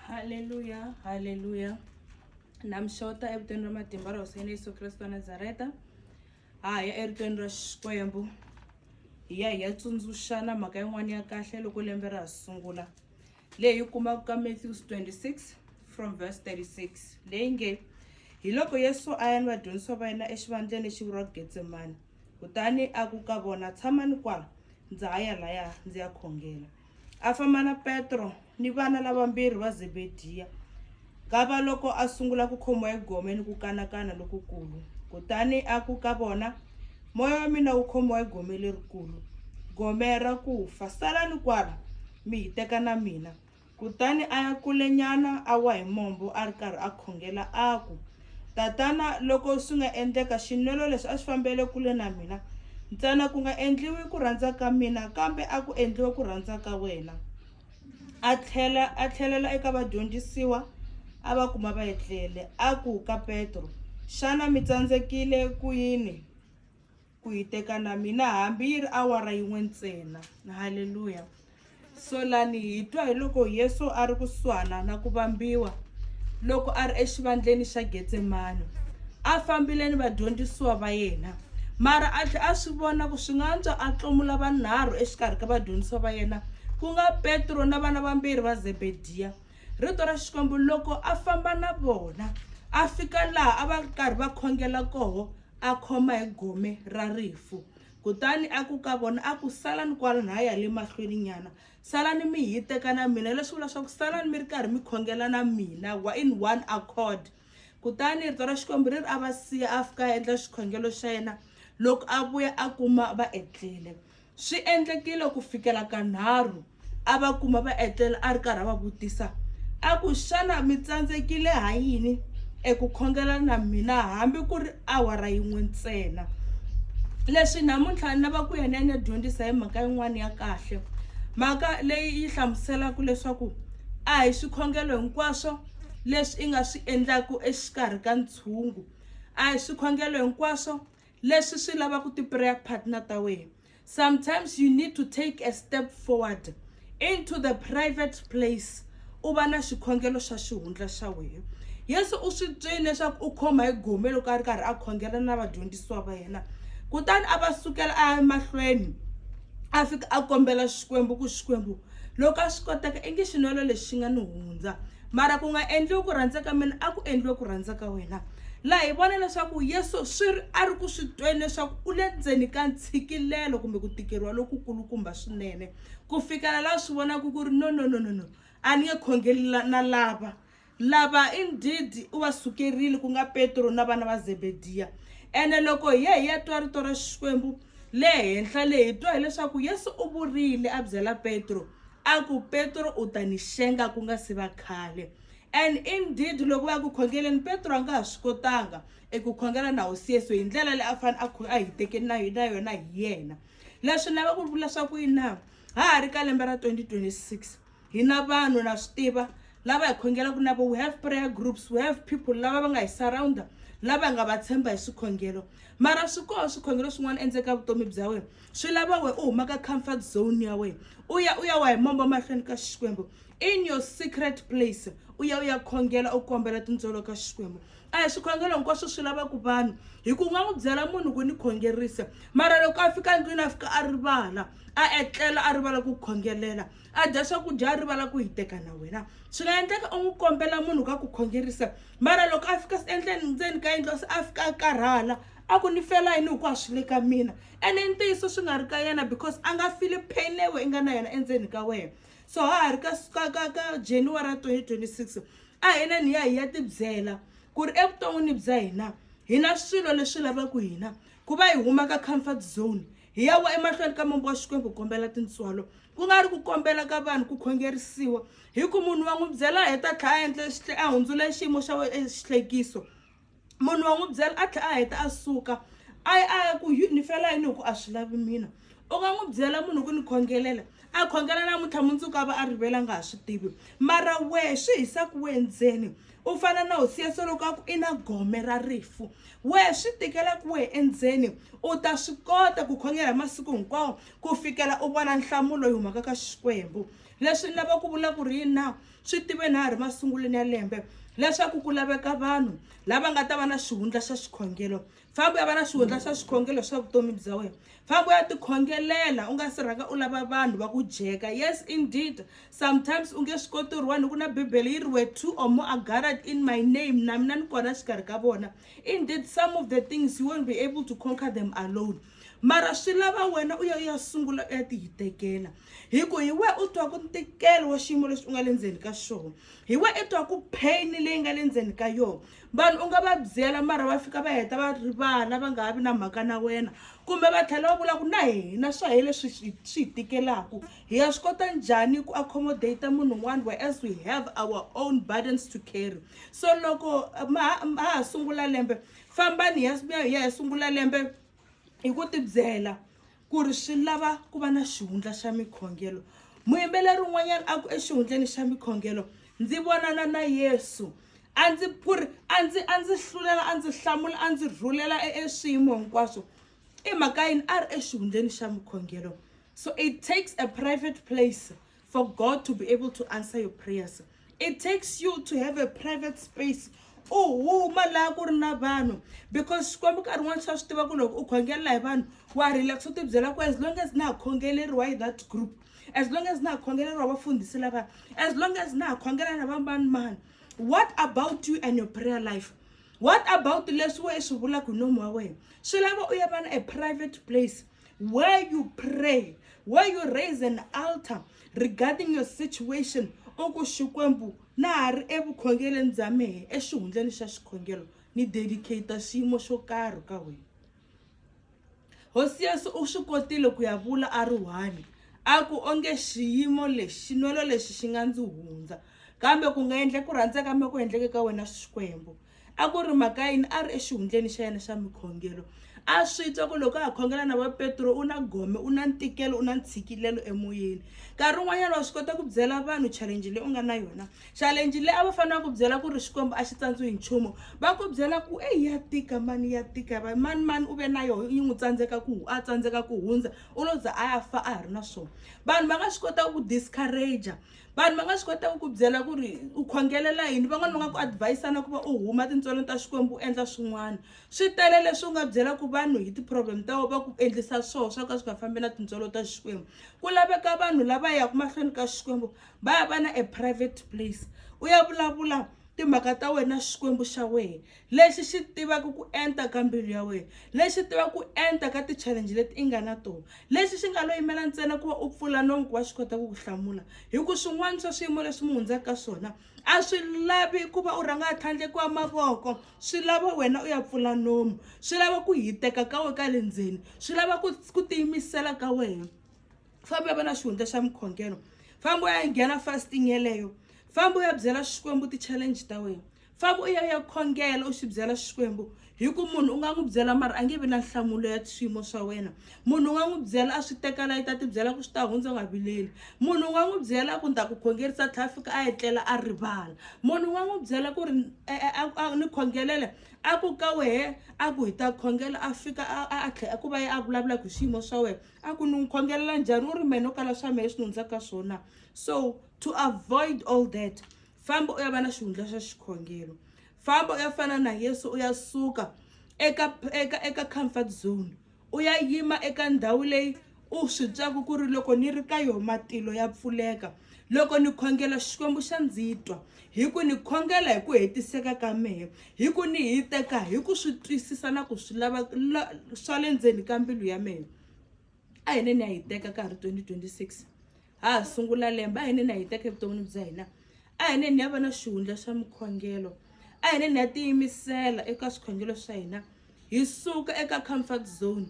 Haleluya, haleluya. Na mi xota evitweni ra matimba ra Hosi ya Yesu Kreste wa Nazareta. Ha ya eritweni ra Xikwembu. Hi ya hi ya tsundzuxana mhaka yin'wana ya kahle loko lembe ra ha sungula. Leyi kumaka ka Matthew 26 from verse 36. Leyi nge, hi loko Yesu a ya ni vadyondzisiwa va yena exivandleni lexi vuriwaka Getsemani. Kutani a ku ka vona, Tshamani kwa, ndza ha ya laya ndzi ya khongela. A famba na Petro ni vana lavambirhi va Zebediya. Kava loko a sungula ku khomiwa hi gome ni ku kanakana lokukulu. Kutani a ku ka vona, Moya wa mina wu khomiwa hi gome lerikulu, gome ra ku fa. Salani kwala, mi hiteka na mina. Kutani a ya kulenyana, a wa hi mombo a ri karhi a khongela a ku, Tatana, loko swi nga endleka xinwelo lexi a xi fambele kule na mina, ntsena ku nga endliwi ku rhandza ka mina kambe a ku endliwe ku rhandza ka wena. A tlhela a tlhelela eka vadyondzisiwa a va kuma va etlele, a ku ka Petro, Xana mi tsandzekile ku yini? ku yi teka na mina hambi yi ri awara yin'we ntsena halleluya so lani hi twa hi loko yesu a ri kusuhana na ku vambiwa loko a ri exivandleni xa getsemani a fambile ni vadyondzisiwa va yena mara a tlhe a swi vona ku swi nga antswa a tlomula vanharhu exikarhi ka vadyondzisiwa va yena ku nga petro na vana vambirhi va zebediya rito ra xikwembu loko a famba na vona a fika laha a va karhi va khongela koho a khoma hi gome ra rifu kutani a ku ka vona a ku salani kwala na ha ya le mahlweni nyana salani mi hi teka na mina leswi vula swa ku salani mi ri karhi mi khongela na mina wa in one accord kutani rito ra xikwembu ri ri a va siya a fika a endla xikhongelo xa yena loko a vuya a kuma va etlele Swi endlekile ku fikela kanharhu a va kuma va etlela a ri karhi a va vutisa a ku, Xana mi tsandzekile ha yini eku khongela na mina hambi ku ri awara yin'we ntsena? Leswi namuntlha ni lava ku ya ni ya ni ya dyondzisa hi mhaka yin'wana ya kahle. Mhaka leyi yi hlamuselaka leswaku a hi swikhongelo hinkwaswo leswi i nga swi endlaku exikarhi ka ntshungu a hi swikhongelo hinkwaswo leswi swi lavaka ti-prayer partner ta wena sometimes you need to take a step forward into the private place u va na xikhongelo xa xihundla xa wena yesu u swi twile leswaku u khoma hi gome loko a ri karhi a khongela na vadyondzisiwa va yena kutani a va sukela a ya emahlweni a fika a kombela xikwembu ku xikwembu loko a swi koteka i nge xinwelo lexi xi nga ni hundza mara ku nga endliwi ku rhandza ka mina a ku endliwe ku rhandza ka wena laha hi vona leswaku yesu swi ri a ri ku swi tweni leswaku u le ndzeni ka ntshikilelo kumbe ku tikeriwa lokukulukumba swinene ku fikela laha swi vonaka ku ri no no no no no a ni nge khongeli na lava Lava i ndhidhi u va sukerile, ku nga Petro na vana va Zebediya. Ene loko hi ya hi ya twa rito ra Xikwembu le henhla le, hi twa hileswaku Yesu u vurile a byela Petro, a ku, Petro, u ta ni xenga ku nga si va khale. And indeed, loko va ya ku khongeleni, Petro a nga ha swi kotanga eku khongela na Hosi Yesu hi ndlela leyi a fanele a kho- a hiteke na na yona hi yena. Leswi ni lava ku vula swa ku yini na? Ha ha ri ka lembe ra 2026. hi na vanhu na swi tiva lava hi khongelaka na vo we have prayer groups we have people lava va nga hi surrounder lava hi nga va tshemba hi swikhongelo mara swi koho swikhongelo swin'wana endzeni ka vutomi bya wena swi lava wena u huma ka comfort zone ya wena u ya u ya wa hi mombo mahlweni ka xikwembu in your secret place u ya u ya khongela u kombela tintsolo ka xikwembu a hi swikhongelo hinkwaswo swi lavaka vanhu hi ku nga n'wi byela munhu ku ni khongerisa mara loko a fika ndlwini a fika a rivala a etlela a rivala ku khongelela a dya swakudya a rivala ku hiteka na wena swi nga endleka u n'wi kombela munhu ka ku khongerisa mara loko a fika endleni ndzeni ka yindlo se a fika a karhala a ku ni fela yini hi ku a swi le ka mina ene i ntiyiso swi nga ri ka yena because a nga fili pain leyi we i nga na yona endzeni ka wena so ha ha ri ka ka ka ka january ya 2026 a hina ni ya hi ya tibyela ku ri evuton'wini bya hina hi na swilo leswi lavaka hina ku va hi huma ka comfort zone Hi ya wa emahlweni ka mombo wa Xikwembu kombela tintswalo, ku nga ri ku kombela ka vanhu ku khongerisiwa, hi ku munhu wa n'wi byela a heta tlhela a endle xihle a hundzula xiyimo xa wena exihlekiso. Munhu wa n'wi byela a tlhela a heta a suka a a ku ni fela yini hi ku a swi lavi mina. U nga n'wi byela munhu ku ni khongelela a khongela namuntlha mundzuku a va a rivele a nga ha swi tivi mara wehe swi hisa ku we ndzeni. u fana na hosi ya solo ka ku i na gome ra rifu wehe swi tikela ku wehe endzeni u ta swi kota ku khongela hi masiku hinkwawo ku fikela u vona nhlamulo yi humaka ka xikwembu leswi ni lava ku vula ku ri yini na swi tive na ha ri masungulweni ya lembe leswaku ku laveka vanhu lava nga ta va na xihundla xa xikhongelo famba u ya va na swihundla swa swikhongelo swa vutomi bya wena famba u ya tikhongelela u nga si rhanga u lava vanhu va ku jeka yes indeed sometimes u nge swi koti ri wani ku na bibele yi ri we two or more are gathered in my name na mina ni kona xikarhi ka vona indeed some of the things you won't be able to conquer them alone mara swi lava wena u ya u ya sungula u ya ti hi tekela hi ku hi we u twa ku ntikelo wa xiyimo lexi u nga le ndzeni ka xona hi we i twa ku pain leyi nga le ndzeni ka yona vanhu u nga va byela mara va fika va heta va rivala va nga ha vi na mhaka na wena kumbe va tlhela va vula ku na hina swa hi leswi swi hi tikelaku hi ya swi kota njhani ku accommodate munhu un'wana where as we have our own burdens to carry so loko ma ha sungula lembe fambani ya ya hi sungula lembe hi ku tibyela ku ri swi lava ku va na xihundla xa mikhongelo muyimbeleri un'wanyana a ku exihundleni xa mikhongelo ndzi vonana na yesu a ndzi ku ri a ndzi a ndzi hlulela a ndzi hlamula a ndzi rhulela e, e swiyimo hinkwaswo i mhaka yini a ri exihundleni xa mikhongelo so it takes a private place for God to be able to answer your prayers. It takes you to have a private space u huma laha ku ri na vanhu because xikwembu nkarhi wun'wana swa swi tiva ku loko u khongelela hi vanhu wa relax u tibyela ku as long as na ha khongeleriwa hi that group as long as na ha khongeleriwa vafundhisi lava as long as na ha khongela na vambanimani what about you and your prayer life what about leswi we swi vulaka hi nomu wa wena swi lava u ya vana a private place where you pray where you raise an altar regarding your situation u ku xikwembu na ha ri evukhongeleni bya mehe exihundleni xa xikhongelo ni dedicata xiyimo xo karhi ka wena hosi yesu u swi kotile ku ya vula a ri one a ku onge xiyimo lexi xinwelo lexi xi nga ndzi hundza kambe ku nga endle ku rhandza ka mina ku endleke ka wena xikwembu a ku ri mhaka yini a ri exihundleni xa yena xa mikhongelo a swi twa ku loko a ha khongela na vapetro u na gome u na ntikelo u na ntshikilelo emoyeni nkarhi wun'wanyana wa swi kota ku byela vanhu challenge leyi u nga na yona challenge leyi a va fanele va ku byela ku ri xikwembu a xi tsandzi hi nchumu va ku byela ku eyi ya tika mani ya tika va mani mani u ve na yoho yi n'wi tsandzeka ku a tsandzeka ku hundza u lo za a ya fa a ha ri na swona vanhu va nga swi kota ku discourager vanhu va nga swi kota ku ku byela ku ri u khongelela yini van'wana va nga ku advise-ana ku va u huma tintswalweni ta xikwembu u endla swin'wana swi tele leswi u nga byela ku vanhu hi ti-problem ta va ku endlisa swoho swa ka swi nga fambi na tintswalo ta xikwembu ku laveka vanhu lava yaka mahlweni ka xikwembu va ya va na a private place u ya vulavula timhaka ta wena xikwembu xa wena lexi xi tivaka ku enta ka mbilu ya wena, lexi tivaka ku enta ka ti-challenge leti i nga na tona, lexi xi nga lo yimela ntsena ku va u pfula nomu ku va xi kota ku ku hlamula. Hi ku swin'wana swa swiyimo leswi mi hundzaka ka swona a swi lavi ku va u rhanga a tlhandlekiwa mavoko, swi lava wena u ya pfula nomu, swi lava ku hiteka ka wena ka le ndzeni, swi lava ku ku tiyimisela ka wena. Famba u ya va na xihundla xa mukhongelo, famba u ya nghena fasting yeleyo, famba u ya byela Xikwembu ti-challenge ta wena. famba u ya u ya khongela u swi byela xikwembu hi ku munhu u nga n'wi byela mara a nge vi na nhlamulo ya swiyimo swa wena munhu u nga n'wi byela a swi tekela yi ta ti byela ku swi ta hundza u nga vileli munhu u nga n'wi byela ku ni ta ku khongerisa tlhela fika a etlela a rivala munhu u nga n'wi byela ku ri e, e, ni khongelele a ku ka wehe a ku hi ta khongela a fika a tlhela ku va ye a vulavula ku swiyimo swa wena a ku ni n'wi khongelela njhani u ri mene u kala swa mehe leswi ni hundzaka ka swona so to avoid all that famba u ya va na xihundla xa xikhongelo famba u ya fana na yesu u ya suka eka eka eka comfort zone u ya yima eka ndhawu leyi u swi twaku ku ri loko ni ri ka yoho matilo ya pfuleka loko ni khongela xikwembu xa ndzi twa hi ku ni khongela hi ku hetiseka ka mehe hi ku ni hi teka hi ku swi twisisa na ku swi lava swa le ndzeni ka mbilu ya mehe a hi ne ni ya hi teka ka ha ri 2026 ha ha sungula lembe a hi neni a hi teka evuton'wini bya hina a hi neni ya va na xihundla xa mukhongelo a hi neni ya tiyimisela eka swikhongelo swa hina hi suka eka comfort zone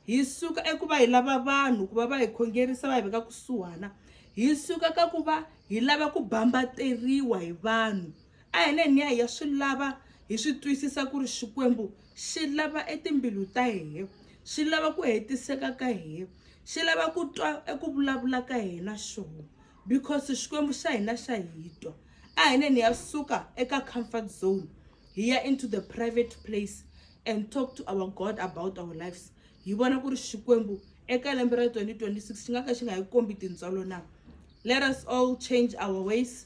hi suka eku va hi lava vanhu ku va va hi khongerisa va hi veka kusuhana hi suka ka ku va hi lava ku bambateriwa hi vanhu a hi neni ya hi ya swi lava hi swi twisisa ku ri xikwembu xi lava etimbilu ta hehe xi lava ku hetiseka ka hehe xi lava ku twa eku vulavula ka hina xoho because xikwembu xa hina xa hi twa a hi neni ya suka eka comfort zone hi ya into the private place and talk to our god about our lives hi vona ku ri xikwembu eka lembe ra 2026 xi nga ka xi nga hi kombi tintswalo na let us all change our ways